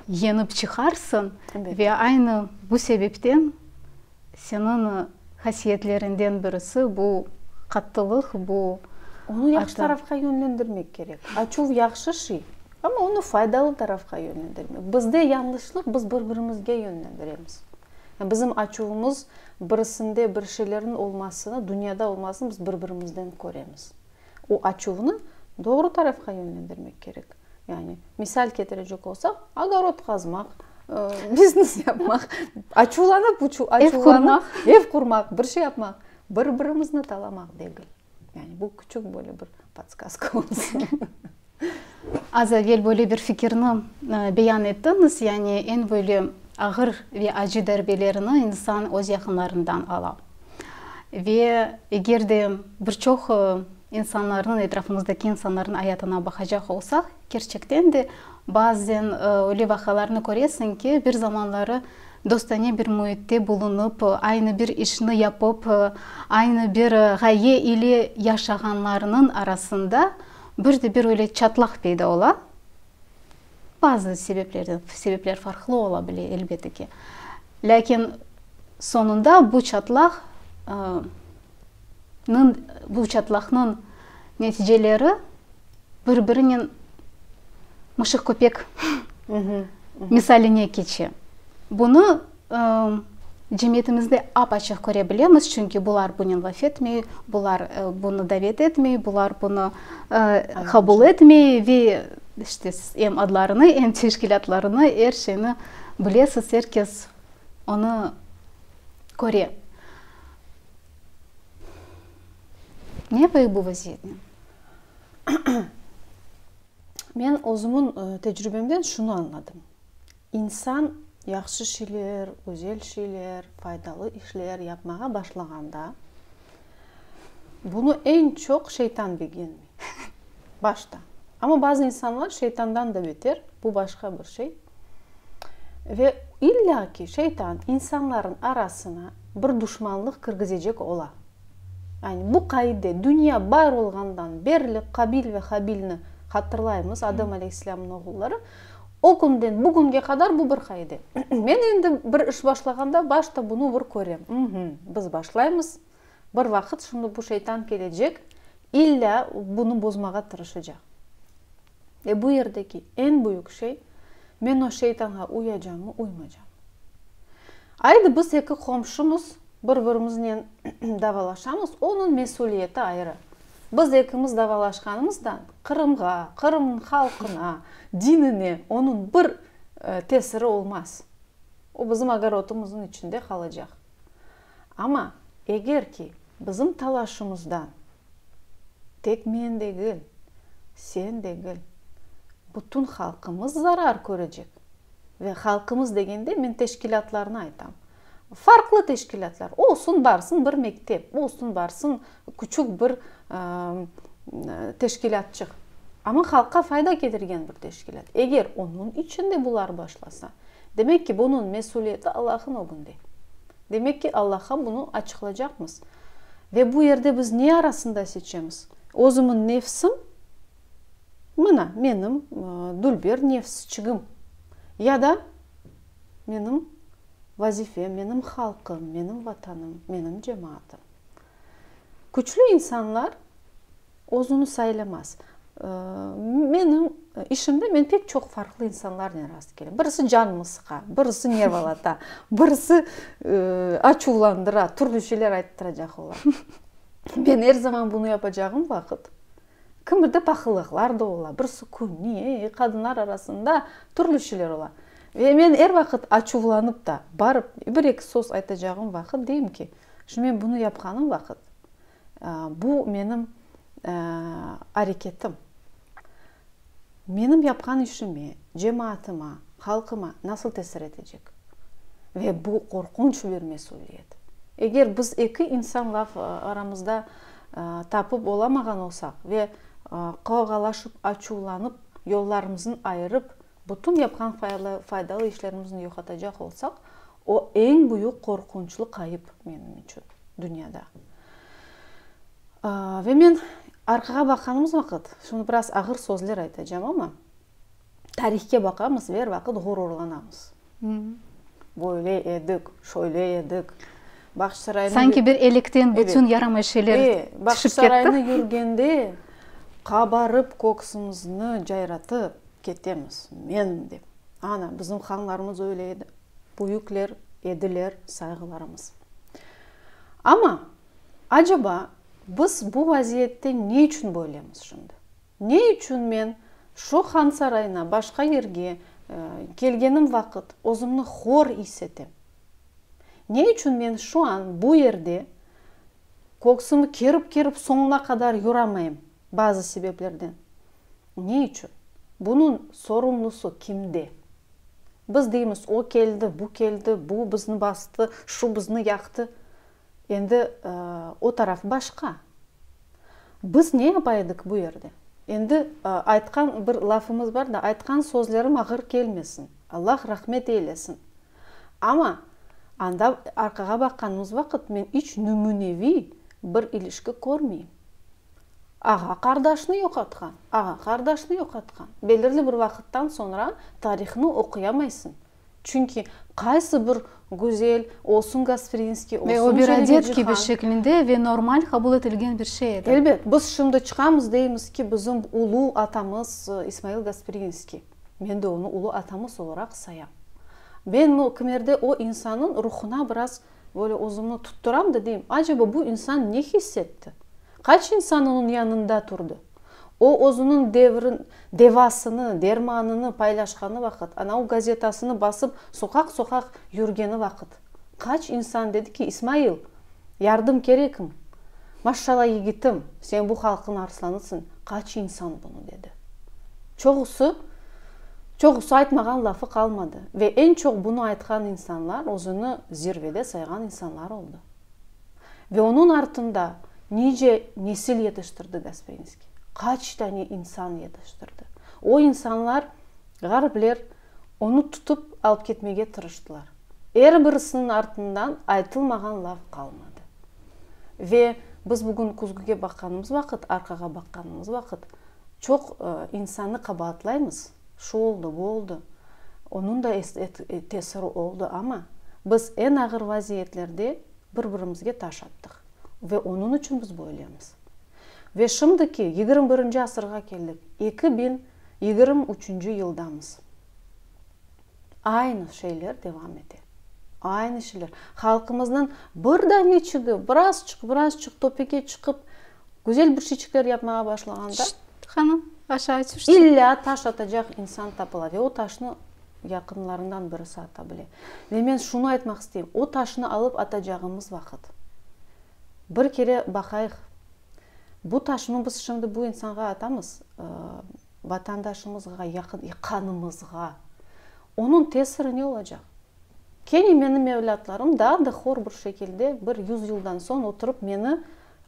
yenip çıqarsıñ ve aynı bu sebepten Seniñ hasiyetlerinden birisi, bu qattılıq, bu. Onı yahşı tarafqa yönlendirmek kerek. Açuv yahşı şey, amma onı faydalı tarafqa yönlendirmek. Bizde yañlışlıq, biz bir-birimizge yönlendiremiz. Yani bizim açuvımız birisinde bir şeylerniñ olmasını, dünyada olmasını biz bir-birimizden köremiz. O açuvnı doğru tarafqa yönlendirmek kerek. Yani, misal ketirecek olsaq, ogorod qazmaq, biznes yapmaq, açuvlanıp, ev qurmaq, bir şey yapmaq, bir-birimizni talamaq degil. Yani, bu küçük böyle bir podskazka olsun. Az evel böyle bir fikirni beyan ettiñiz, yani eñ böyle ağır ve acı darbelerini insan öz yaqınlarından ala. Ve eger de bir çoq insanlarnıñ, etrafımızdaki insanlarnıñ ayatına baqacaq olsaq, kerçekten de bazen öyle vaqıalarnı köresiñ ki, bir zamanları dostane bir müitte bulunıp, aynı bir işni yapıp, aynı bir ğaye ile yaşağanlarnıñ arasında, Bir de bir öyle çatlaq peyda ola, bazı sebeplerden, sebepler farqlı ola bile, elbette ki. Lâkin soñunda bu çatlaq, nıñ, bu çatlaqnıñ neticeleri bir birinen mışıq-köpek misaline keçe. Bunı, Cemiyetimizde ap-açıq köre bilemiz, çünki bular bunı laf etmey, bular bunı davet etmey, bular bunı qabul etmey ve işte em adlarını, em teşkilâtlarını, er şeyni bilesiz, er kes onı köre. Ne yapayıq bu vaziyetnen? Men özümniñ tecrübemden şunı añladım. İnsan yahşı şeyler, güzel şeyler, faydalı işler yapmağa başlağanda, bunı eñ çoq şeytan begenmey, başta. Amma bazı insanlar şeytandan da beter, bu başqa bir şey. Ve illa ki, şeytan insanların arasına bir duşmanlıq kirgizecek ola. Yani bu qaide, dünya bar olğandan berli Qabil ve Habilni hatırlaymız, Adem aleyhisselâmnıñ oğulları. O künden bugünge qadar bu bir qaide. Men endi bir iş başlağanda başta bunı bir körem. Uhmm, biz başlaymız, bir vaqıt şimdi bu şeytan kelecek, illâ bunı bozmağa tırışacaq. E, bu yerdeki eñ büyük şey, men o şeytanğa uyacamı, uymacam. Aydı, biz eki qomşumız bir-birimiznen davalaşamız, onıñ mesüliyeti ayrı. Biz ekimiz davalaşqanımızdan Qırımğa, Qırımnıñ halqına, dinine onıñ bir tesiri olmaz. O, bizim ogorodımıznıñ içinde qalacaq. Amma eger ki, bizim talaşımızdan tek men degil, sen degil, bütün halqımız zarar körecek. Ve halqımız degende men teşkilâtlarnı aytam. Farqlı teşkilâtlar, olsun barsın bir mektep, olsun barsın, Küçük bir teşkilâtçıq, amma halqqa fayda ketirgen bir teşkilât. Eger onıñ içinde bular başlasa, demek ki, bunıñ mesülieti Allahıñ ögünde. Demek ki, Allahqa bunı açıqlaycaqmız. Ve bu yerde biz ne arasında seçemiz? Özümiñ nefsim, mına, menim dülber nefsçigim, ya da menim vazifem, menim halqım, menim vatanım, menim cemaatim. Küçlü insanlar özüni saylamaz. Menim işimde men pek çoq farqlı insanlarnen rast kelem. Birisi canımı sıqa, birisi nervalata, birisi açuvlandıra, türlü şeyler ayttıracaq ola. Men er zaman bunı yapacağım vaqıt, kimide paqılıqlar da ola, birisi küney, qadınlar arasında türlü şeyler ola. Ve men er vaqıt açuvlanıp ta, barıp bir-eki söz aytacağım vaqıt deyim ki, Şimdi men bunı yapqanım vaqıt, bu menim areketim. Menim yapqan işime, cemaatıma, halqıma nasıl tesir etecek? Ve bu qorqunç bir mesüliyet. Eger biz eki insan laf aramızda tapıp olamağan olsaq ve qavğalaşıp, açuvlanıp, yollarımızın ayırıp, Bütün yapqan faydalı işlerimizni yoqatacaq olsaq, o, eñ büyük qorqunçlı qayıp menim içün dünyada. Ve men arqağa baqanımız vaqıt, şimdi biraz ağır sözler aytacağım, amma tarihke baqamız ve er vaqıt ğururlanamız. Böyle edik, şöyle edik. Bağçasarayına. Sanki bir elekten bütün yaramay şeyler tüşip ketti. Eee, Bağçasarayına yürgende qabarıp köksümizni cayratıp ketemiz, men dep. Ana, bizim hanlarımız öyle edi. Büyükler ediler, sayğılarımız. Amma, aceba, biz bu vaziyette ne içün böylemiz şimdi? Ne içün men şu Han Sarayına başqa yerge kelgenim vaqıt özümni hor is etem? Ne içün men şu an bu yerde köksümü kerip-kerip soñuna qadar yuramayım bazı sebeplerden? Ne içün? Bunıñ sorumlusı kimde? Biz deymiz, o keldi, bu keldi, bu bizni bastı, şu bizni yaqtı. Endi o taraf başqa. Biz ne yapa edik bu yerde? Endi aytqan bir lafımız bar da, aytqan sözlerim ağır kelmesin, Allah rahmet eylesin. Amma anda arqağa baqqanımız vaqıt men iç nümüneviy bir ilişki körmeyim. Ağa-qardaşnı yoqatqan, ağa-qardaşnı yoqatqan. Belirli bir vaqıttan soñra tarihni oquyamaysıñ, Çünki qaysı bir güzel, olsun Gasprinskiy, olsun Çelebicihan. Ve o bir adet kibi şeklinde ve normal qabul etilgen bir şey edi. Elbet, biz şimdi çıqamız, deymiz ki, bizim ulu atamız İsmail Gasprinskiy. Men de onı ulu atamız olaraq sayam. Men o kimerde o insannıñ ruhuna biraz. Böyle özümni tutturam da deyim, aceba bu insan ne hiss etti? Qaç insan onıñ yanında turdı? O, özüniñ devrin, devasını, dermanını paylaşqanı vaqıt, anau gazetasını basıp soqaq-soqaq yürgeni vaqıt, qaç insan dedi ki, İsmail, yardım kerekmi? Maşşala, yigitim, sen bu halqıñ arslanısıñ, qaç insan bunı dedi. Çoğusı, çoğusı aytmağan lafı qalmadı ve eñ çoq bunı aytqan insanlar özüni zirvede sayğan insanlar oldı. Ve onıñ artında nice nesil yetiştirdi Gaspeynskiy, qaç tane insan yetiştirdi. O insanlar, ğaripler, Onı tutıp alıp ketmege tırıştılar. Er birisiniñ artından aytılmağan laf qalmadı. Ve biz bugün küzgüge baqqanımız vaqıt, arqağa baqqanımız vaqıt, çoq insannı qabaatlaymız, şu oldı, bu oldı, onıñ da tesiri oldı, amma biz eñ ağır vaziyetlerde bir-birimizge taş attıq. Ve onıñ içün biz böylemiz. Ve şimdiki yigirmi birinci asırğa keldik, eki biñ Yigirmi üçünci yıldamız. Aynı şeyler devam ete. Aynı şeyler. Halqımıznıñ bir daneçigi, birazçıq, birazçıq topege çıqıp, güzel bir şeyçikler yapmağa başlağanda, illâ taş atacaq insan tapıla ve o taşnı yaqınlarından birisi ata bile. Ve men şunı aytmaq isteyim, o taşnı alıp atacağımız vaqıt, Bir kere baqayıq, bu taşnı biz şimdi bu insanğa atamız, vatandaşımızğa, yaqın yaqanımızğa. Onıñ tesiri ne olacaq? Kene menim evlâtlarım daa da hor bir şekilde, bir yüz yıldan soñ oturıp meni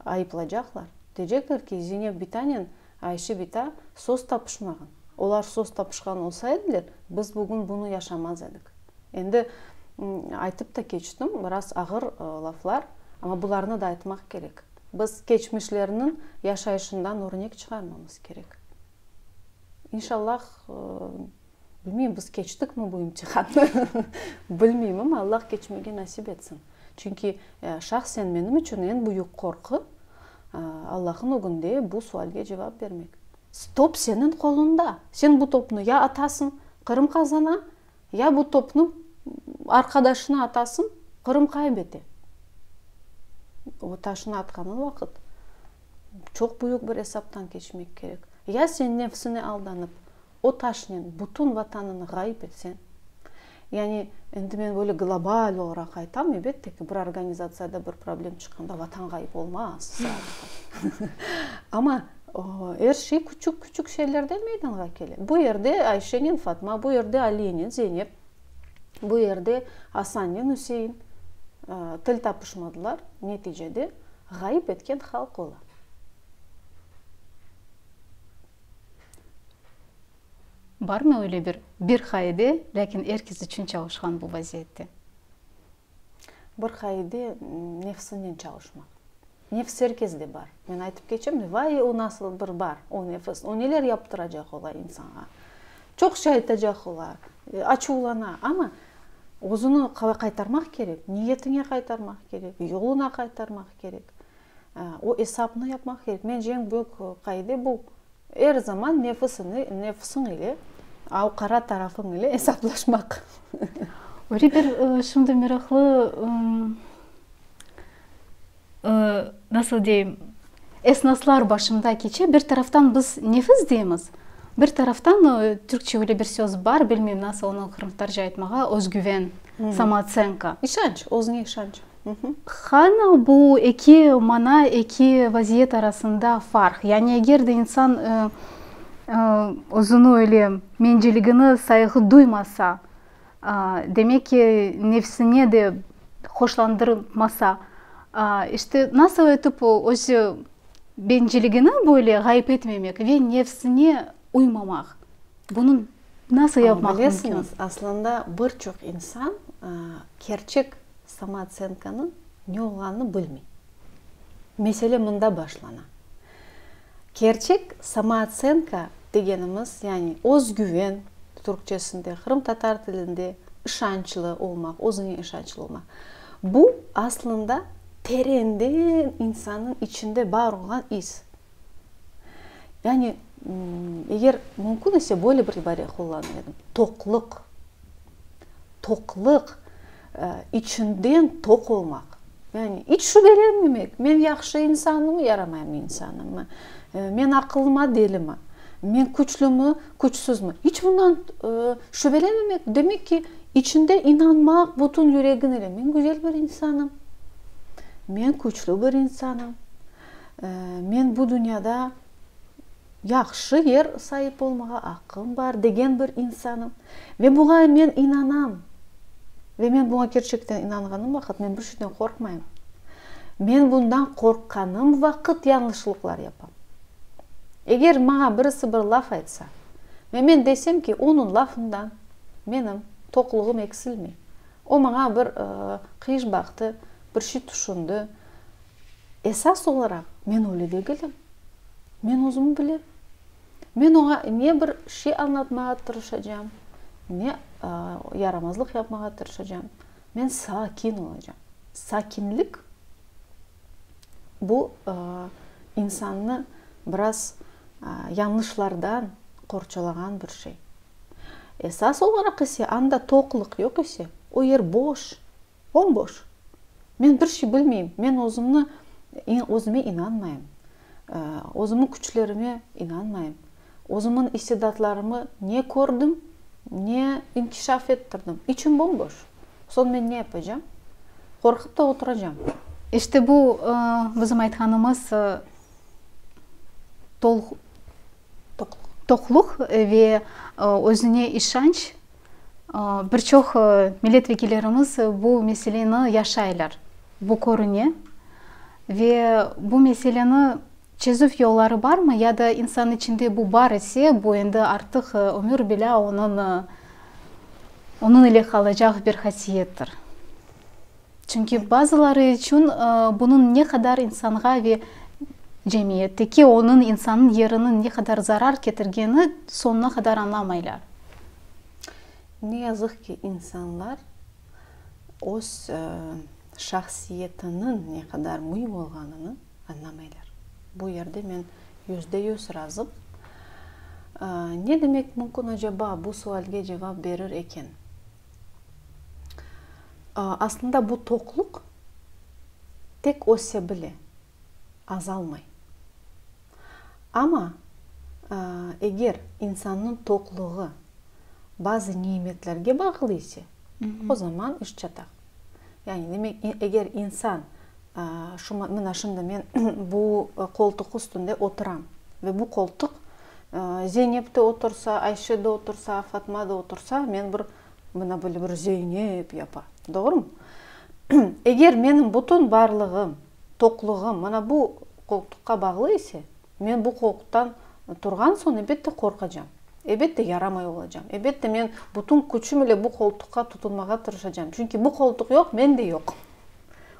ayıplacaqlar. Deycekler ki, Zeynep bitanen Ayşe bita söz tapışmağan. Olar söz tapışqan olsa ediler, biz bugün bunı yaşamaz edik. Endi aytıp da keçtim, biraz ağır laflar, amma bularnı da aytmaq kerek. Biz keçmişlerniñ yaşayışından örnek çıqarmamız kerek. İnşallah, bilmeyim, biz keçtikmi bu imtihannı, bilmeyim, amma Allah keçmege nasip etsin. Çünki şahsen menim içün eñ büyük qorqu, Allah'nıñ ögünde bu sualge cevap bermek. Top seniñ qolunda. Sen bu topnı ya atasıñ, Qırım qazana, Ya bu topnı arqadaşına atasıñ, Qırım qaybete. O taşnı atqanıñ vaqıt çoq büyük bir esaptan keçmek kerek. Ya sen nefsine aldanıp, o taşnen bütün Vatanıñı ğayıp etseñ, yani endi men böyle global olaraq aytam, elbette ki, bir organizatsiyada bir problem çıqqanda Vatan ğayıp olmaz, amma, Er şey küçük-küçük şeylerden meydanğa kele. Bu yerde Ayşenen Fatma, bu yerde Aliyenen Zeynep, bu yerde Asannen Üsein til tapışmadılar, neticede ğayıp etken halq ola. Barmı öyle bir bir qaide, lâkin er kes içün çalışqan bu vaziyette? Bir qaide, nefsinnen çalışmaq. Nefis er kezde bar. Men aytıp keçem, vay, o nasıl bir bar, o nefis, o neler yaptıracaq ola insanğa. Çoq şey aytacaq ola, açuvlana. Amma özüni qaytarmaq kerek, niyetiñe qaytarmaq kerek, yoluna qaytarmaq kerek. O esapnı yapmaq kerek. Mence, eñ büyük qaide bu. Er zaman nefisini, nefsiñ ile, av qara tarafıñ ile esaplaşmaq. Öyle bir şimdi meraqlı, nasıl deyim, esnaslar başımda keçe, bir taraftan biz nefis deymiz, bir taraftan Türkçe öyle bir söz bar, bilmeyim nasıl onı qırımtatarca aytmağa, özgüven, samoocenka. İşanç, özüñe işanç. Hanı bu eki mana, eki vaziyet arasında farq? Yani eger de insan özüni öyle menciligini sayğı duymasa, demek ki, nefsine de hoşlandırmasa, işte nasıl etip öz benciligini böyle ğayıp etmemek ve nefsine uymamaq? Bunıñ. Nasıl yapmaq mümkün? Bilesiñiz, aslında bir çoq insan kerçek samootsentkanıñ ne olğanını bilmey. Mesele mında başlana. Kerçek samootsentka degenimiz, yani özgüven, türkçesinde, qırımtatar tilinde işançlı olmaq, özüñe işançlı olmaq, bu aslında terenden insannıñ içinde bar olğan is. Yani, eger mümkün ise, böyle bir ibare qullanır edim, toqluq. Toqluq, içinden toq olmaq. Yani, iç şübelenmemek, men yahşı insanmı, yaramayım insanmı, men aqıllıma, delimi, men küçlümi, küçsüzmi, iç bundan şübelenmemek, demek ki, içinde inanmaq, bütün yüregin ile, men güzel bir insanım, men küçlü bir insanım. Men bu dünyada yahşı yer saip olmağa aqqım bar degen bir insanım. Ve buña men inanam. Ve men buña kerçekten inanğanım vaqıt men bir şeyden qorqmayım. Men bundan qorqqanım vaqıt yañlışlıqlar yapam. Eger maña birisi bir laf aytsa ve men desem ki, onıñ lafından menim toqluğım eksilmey, o maña bir qıyış baqtı, bir şey tüşündi, Esas olaraq, men öyle degilim. Men özüm bilem. Men oña ne bir şey añlatmağa tırışacam, ne yaramazlıq yapmağa tırışacam. Men sakin olacam. Sakinlik, bu, insannı biraz yañlışlardan qorçalağan bir şey. Esas olaraq ise, anda toqlıq yoq ise, o yer boş. Bomboş! Men bir şey bilmeyim, men özümni, özüme inanmayım, özümniñ küçlerime inanmayım, özümniñ istidatlarımı ne kördim, ne inkişaf ettirdim, içim bomboş. Soñ men ne yapacağım? Qorqıp da oturacağım. İşte bu bizim aytqanımız, Toqluq ve özüne işanç, bir çoq milletvekillerimiz bu meseleni yaşaylar, bu körüne. Ve bu meseleni çezüv yolları barmı ya da insan içinde bu bar ise, bu endi artıq ömür bilâ onıñ ile qalacaq bir hasiyettir. Çünki bazıları içün bunıñ ne qadar insanğa ve cemiyetteki onıñ, insanıñ yeriniñ ne qadar zarar ketirgeni soñuna qadar añlamaylar. Ne yazıq ki, insanlar öz şahsiyetiniñ ne qadar müim olğanını añlamaylar. Bu yerde men yüzde yüz razım. Ne demek mümkün acaba, bu sualge cevap berir eken? Aslında bu toqluq tek öse bile, azalmay. Amma eger insannıñ toqluğı bazı nimetlerge bağlı ise, o zaman iş çata. Yani demek, eger insan, Şu, mına şimdi men bu qoltuq üstünde oturam. Ve bu qoltuq Zeynep de otursa, Ayşe de otursa, Fatma da otursa, men bir, mına böyle bir Zeynep yapa. Doğrumı? Eger menim bütün barlığım, toqluğım mına bu qoltuqqa bağlı ise, men bu qoltuqtan turğan soñ, elbette, qorqacam. Elbette, yaramay olacam. Elbette, men bütün küçüm ile bu qoltuqqa tutunmağa tırışacam. Çünki bu qoltuq yoq, men de yoq.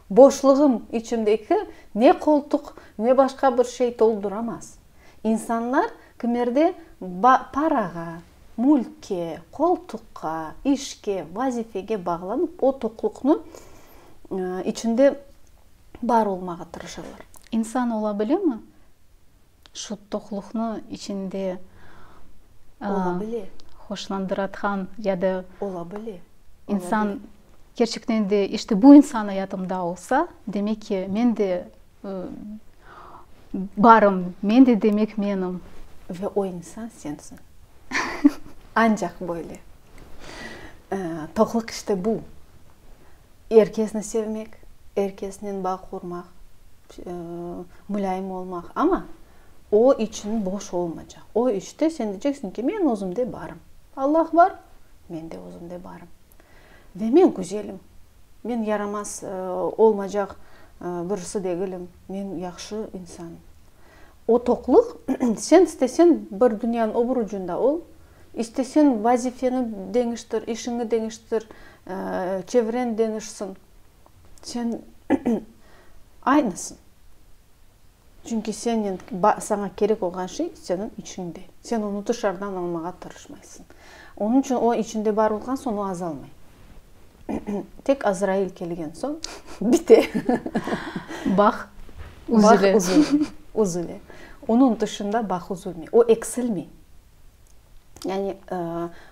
Boşluğım, içimdeki ne qoltuq, ne başqa bir şey tolduramaz. İnsanlar kimerde ba parağa, mülkke, qoltuqqa, işke, vazifege bağlanıp o toqluqnı içinde bar olmağa tırışalar. İnsan ola bilemi? Şu toqluqnı içinde hoşlandıratqan ya da insan kerçekten de işte bu insan ayatımda olsa, demek ki, men de barım, men de demek menim. Ve o insan sensiñ. Ancaq böyle. Toqlıq işte bu, er kesni sevmek, er kesnen bağ qurmaq, mulâyim olmaq, amma o içün boş olmaycaq. O işte sen deyceksiñ ki, men özümde barım. Allah bar, men de özümde barım. Ve men güzelim, men yaramaz olmaycaq birisi degilim, men yahşı insanım. O toqlıq, sen istesen bir dünyanıñ öbür ucunda ol, istesen vazifeñi deñiştir, işiñi deñiştir, çevreñ deñişsin, sen aynısıñ. Çünki sennen, saña kerek olğan şey seniñ içiñde. Sen onı tışarıdan almağa tırışmaysıñ. Onıñ içün o içiñde bar olğan soñ o azalmay. Tek Azrail kelgen soñ bite. Bağ üzüle. Üzüle. Onıñ tışında bağ üzülmey, o eksilmey. Yani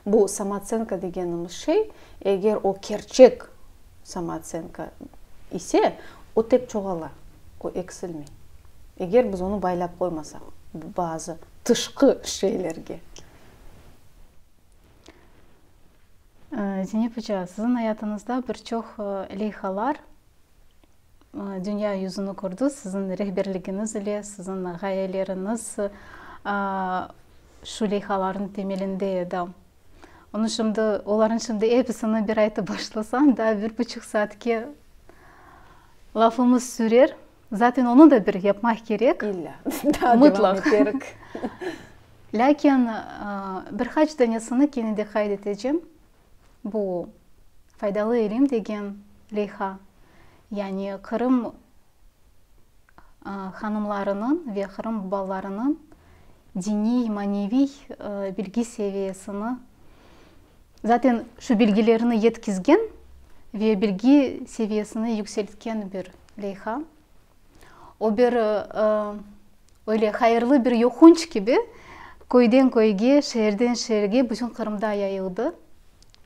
bu samootseenka degenimiz şey, eger o kerçek samootseenka ise, o tek çoğala, o eksilmey. Eger biz onı baylap qoymasaq bazı tışqı şeylerge. Zeynep oca, siziñ ayatıñızda bir çoq leyhalar dünya yüzüni kördi, siziñ rehberligiñiz ile, siziñ ğayeleriñiz şu leyhalarnıñ temelinde edi. Onı şimdi, olarnıñ şimdi episini bir aytıp başlasañ, daa bir buçuq saatke lafımız sürer. Zaten onı da bir yapmaq kerek. İlla. Daa devam eterik. Lâkin bir qaç danesini kene de qayd etecem. Bu Faydalı ilim degen leyha. Yani Qırım hanımlarınıñ ve Qırım balalarınıñ diniy, maneviy bilgi seviyesini, zaten şu bilgilerini yetkizgen ve bilgi seviyesini yükseltken bir Leyha. O bir, öyle hayırlı bir yoqunç kibi köyden köyge, şeerden şeerge, bütün Qırımda yayıldı.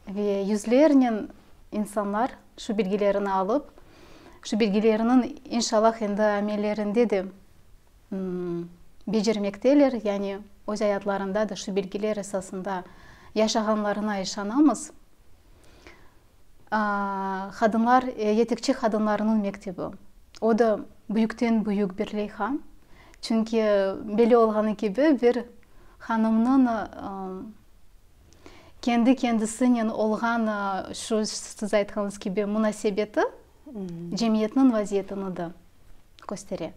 Ve yüzlernen insanlar şu bilgilerini alıp, şu bilgileriniñ inşallah endi amellerinde de becermekteler, yani öz ayatlarında da şu bilgiler esasında yaşağanlarına işanamız. Qadınlar, yetekçi qadınlarnıñ mektebi. O da büyükten büyük bir leyha. Çünki belli olğanı kibi, bir hanımnıñ kendi kendisinen olğan şu siz aytqanıñız kibi munasebeti cemiyetniñ vaziyetini de köstere.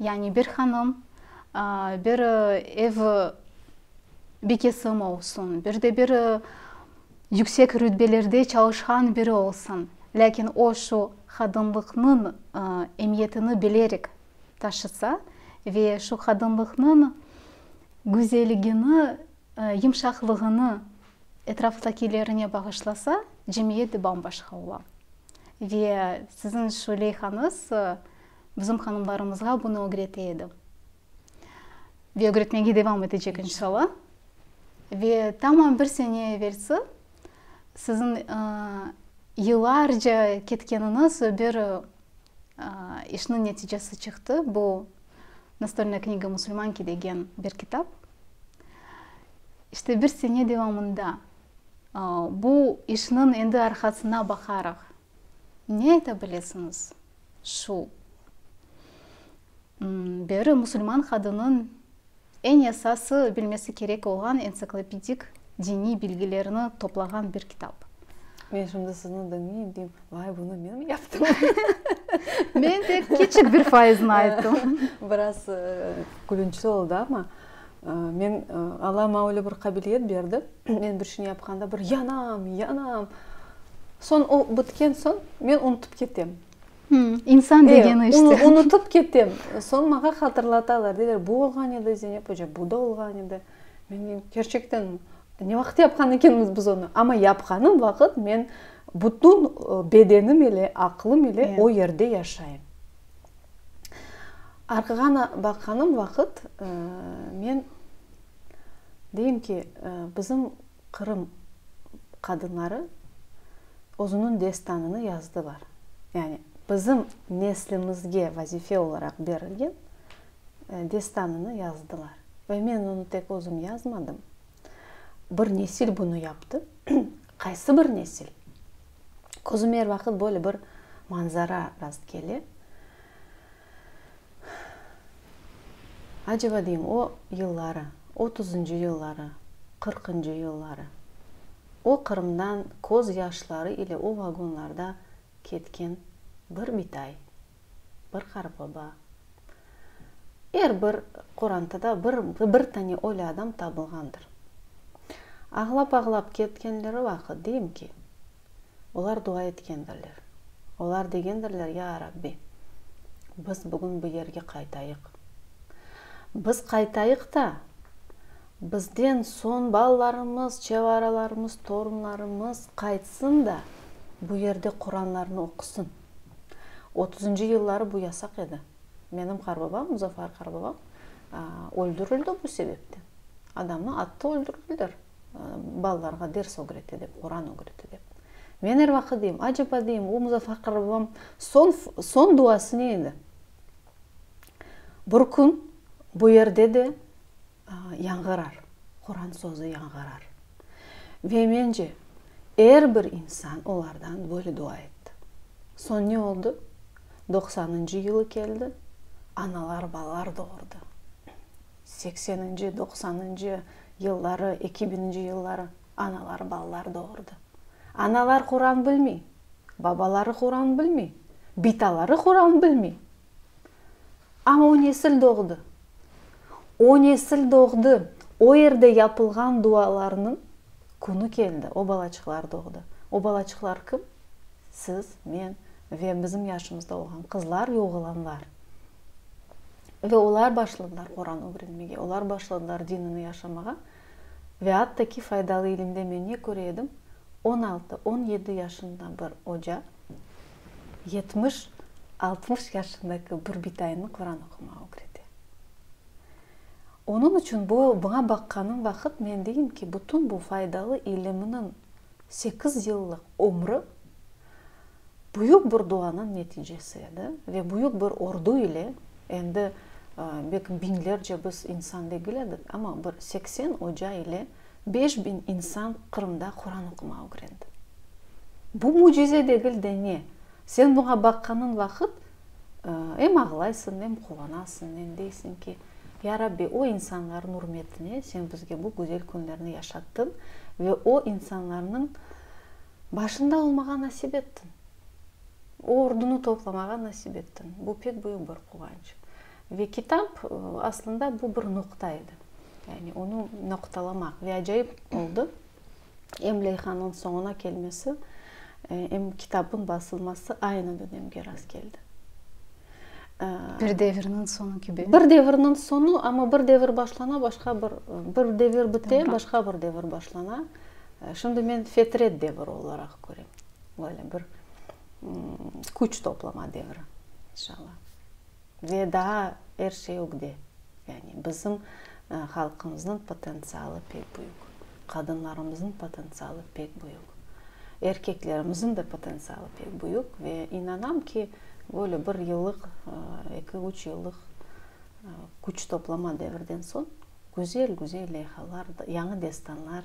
Yani bir hanım, bir ev bekesimi olsun, bir de bir Yüksek rütbelerde çalışqan biri olsun, lâkin o şu qadınlıqnıñ emiyetini bilerek taşısa ve şu qadınlıqnıñ güzelligini, yımşaqlığını etraftakilerine bağışlasa, cemiyet de bam-başqa ola. Ve siziñ şu leyhañız bizim hanımlarımızğa bunı ögrete edi. Ve ögretmege devam etecek inşalla. Ve tamam bir sene evelsi siziñ yıllarca ketkeniñiz bir işniñ neticesi çıqtı, bu Nastolnaya knjiga musulmanki degen bir kitap. İşte bir sene devamında bu işniñ endi arqasına baqaraq ne ayta bilesiñiz şu beri musulman qadınıñ eñ esası bilmesi kerek olğan ensiklopedik diniy bilgilerni toplağan bir kitap. Men şimdi sizni diñleyim, deyim, vay, bunı men yaptım. Men tek kiçik bir faizini ayttım. Biraz külünçli oldı, amma men, Alla maña öyle bir qabiliyet berdi, men bir şeyni yapqanda bir yanam, yanam. Soñ o bitken soñ, men unutıp ketem. İnsan degeni işte. Eee, unutıp ketem. Soñ maña hatırlatalar, deyler, bu olğan edi, Zeynep oca, bu da olğan edi. Men deyim, kerçekten, ne vaqıt yapqan ekenmiz biz onı? Amma yapqanım vaqıt men bütün bedenim ile, aqlım ile o yerde yaşayım. Arqağa baqqanım vaqıt men. Deyim ki, bizim Qırım qadınları özüniñ destanını yazdılar. Yani bizim neslimizge vazife olaraq berilgen destanını yazdılar. Ve men onı tek özüm yazmadım. Bir nesil bunı yaptı. Qaysı bir nesil? Közüme er vaqıt böyle bir manzara rast kele. Aceba deyim, o yılları, otuzıncı yılları, qırqıncı yılları, o Qırımdan köz yaşları ile o vagonlarda ketken bir bitay, bir qarıbaba, er bir qorantıda bir, bir tane ölü adam tabılğandır. Ağlap-ağlap ketkenleri vaqıt, deyim ki, Olar dua etkendirler. Olar degendirler, Ya Rabbi, biz bugün bu yerge qaytayıq. Biz qaytayıq da, bizden soñ balalarımız, çevaralarımız, torunlarımız qaytsın da, bu yerde Quranlarnı oqusın. Otuzıncı yılları bu yasaq edi. Menim qarbabam, Muzafar qarbabam öldürildi bu sebepten. Adamnı attı, öldürdüler. Balalarğa ders ögretti dep, Quran ögretti dep. Men er vaqıt deyim, aceba deyim, o Muzafar qarbabam soñ duası ne edi? Bir kün bu yerde de yañğırar, Quran sözü yañğırar. Ve mence, er bir insan olardan böyle dua etti. Soñ ne oldı? Doqsanıncı yılı keldi, analar balalar doğurdı. Sekseninci, doqsanıncı yılları, eki bininci yılları analar balalar doğurdı. Analar Quran bilmey, babaları Quran bilmey, bitaları Quran bilmey. Amma o nesil doğdı. O nesil doğdı. O yerde yapılğan dualarnıñ künü keldi. O balaçıqlar doğdı. O balaçıqlar kim? Siz, men ve bizim yaşımızda olğan qızlar ve oğlanlar. Ve olar başladılar Quran ögrenmege, olar başladılar dinini yaşamağa. Ve atta ki, faydalı ilimde men ne köre edim, on altı, on yedi yaşında bir oca, Yetmiş, altmış yaşındaki bir bitaynı Quran oqumağa ögrete. Onıñ içün bu, buña baqqanım vaqıt men deyim ki, bütün bu faydalı ilimniñ sekiz yıllıq ömrü büyük bir duanıñ neticesi edi ve büyük bir ordu ile, endi belki biñlerce biz insan degil edik, amma bir seksen oca ile, Beş biñ insan Qırımda Quran oqumav ögrendi. Bu mücize degil de ne? Sen buña baqqanıñ vaqıt, em ağlaysıñ, em quvanasıñ, em deysiñ ki, Ya Rabbi, o insanlarnıñ ürmetine sen bizge bu güzel künlerni yaşattıñ ve o insanlarnıñ başında olmağa nasip ettiñ. O ordunı toplamağa nasip ettiñ. Bu pek büyük bir quvanç. Ve kitap, aslında, bu bir noqta edi. Yani onı noqtalamaq. Ve acayip oldı, em leyhanıñ soñuna kelmesi, em kitabnıñ basılması aynı dönemge rastkeldi. Bir devirniñ soñu kibi. Bir devirniñ soñu, amma bir devir başlana, başqa bir, bir devir bite, başqa bir devir başlana. Şimdi men fetret deviri olaraq körem. Böyle bir küç toplama deviri, inşallah. ve daa er şey ögde. Yani bizim halqımıznıñ potentsialı pek büyük, qadınlarımıznıñ potentsialı pek büyük, erkeklerimiziñ de potentsialı pek büyük ve inanam ki, böyle bir yıllıq, eki-üç yıllıq küç toplama devirden soñ güzel-güzel leyhalar, yañı destanlar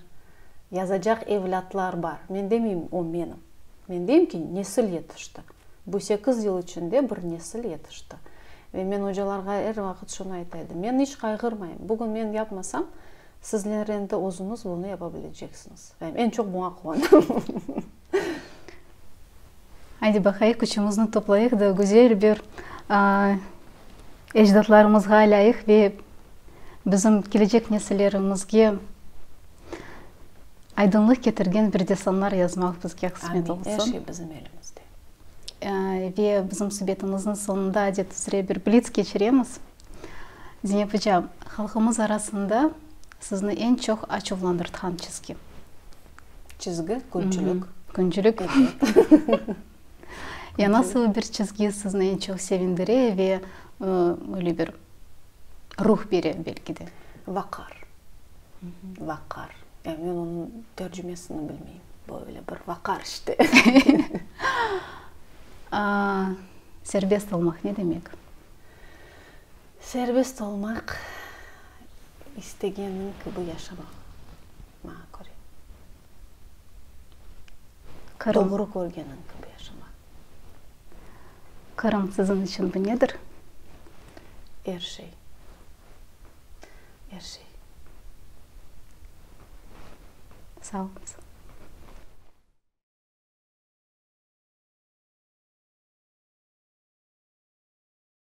yazacaq evlâtlar bar. Men demeyim, o menim. Men deyim ki, nesil yetişti. Bu sekiz yıl içinde bir nesil yetişti. Ve men ocalarğa er vaqıt şunı ayta edim, men iç qayğırmayım, bugün men yapmasam, sizler endi özüñiz bunı yapa bileceksiñiz. Ve men çoq buña quvandım. Aydı baqayıq, küçümizni toplayıq da güzel bir ecdatlarımızğa lâyıq ve bizim kelecek nesillerimizge, Aydınlıq ketirgen bir destanlar yazmaq bizge qısmet olsun. Amin, er şey bizim elimizde. Ve bizim subetimiznıñ soñunda adet üzre bir blitz keçiremiz. Zeynep ocam, halqımız arasında sizni eñ çoq açuvlandırtqan çizgi? Çizgi, küncülük. Küncülük. Ya nasıl bir çizgi sizni eñ çoq sevindire ve böyle bir ruh bere belki de? Vaqar. Vaqar. Ya men onıñ tercümesini bilmeyim. Böyle bir vaqar işte. Serbest olmaq ne demek? Serbest olmaq, istegenin kibi yaşamaq, maña köre. Doğru körgeniñ kibi yaşamaq. Qırım siziñ içün bu nedir? Er şey. Er şey. Sağ oluñız.